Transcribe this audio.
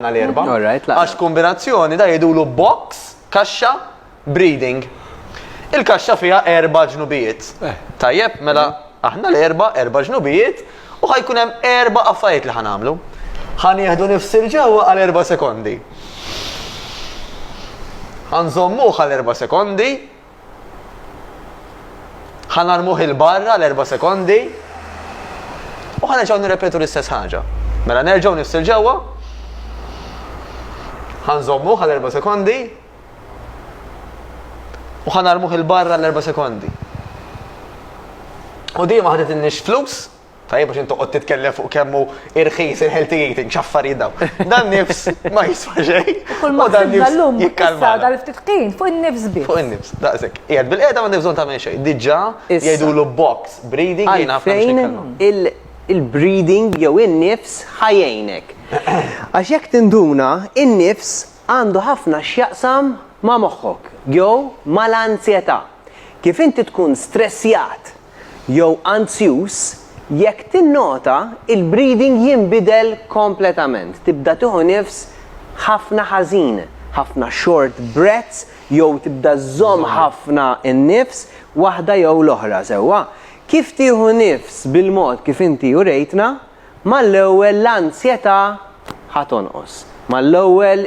Għana l-erba. Għax kombinazzjoni da jidulu box, kaxxa, breeding. Il-kaxxa fija erba ġnubijiet. Eh. Tajjeb, mela aħna l-erba, erba ġnubijiet, u ħajkun hemm erba affarijiet li ħanamlu. Ħan jieħdu nifsir ġewwa għal erba sekondi. Ħanżommu għal erba sekondi, Ħa narmuh 'il barra għal erba' sekondi u ħa nerġgħu nirrepetu l-istess ħaġa. Mela nerġgħu nifsil ġewwa. Ħa nżommuh għal erba' sekondi u ħa narmuh 'il barra għal erba' sekondi. U dejjem ħadet innix flus Tajjeb biex inti toqgħod titkellem fuq kemm hu irħis il-healthy eating, x'affarijiet dawn. Dan nifs ma jiswa xejn. Kull ma dan nifs jikkalma. Dan ftit ħin fuq in-nifs biss. Fuq in-nifs, daqshekk. Qiegħed bil-qiegħda ma nifżon tagħmel xejn. Diġà jgħidulu box breathing jien naf kemm x'nikkalma. Il-breathing jew in-nifs ħa jgħinek. Għax jekk tinduna, in-nifs għandu ħafna x'jaqsam ma' moħħok jew mal-anzjetà. Kif inti tkun stressjat jew anzjuż, jekk tinnota l-breathing jinbidel kompletament, tibda tieħu nifs ħafna ħażin, ħafna short breaths jew tibda żżomm ħafna n-nifs, waħda jew l-oħra, sewwa kif tieħu nifs bil-mod kif inti urejtna, mal-ewwel l-anzjetà ħa tonqos, mal-ewwel.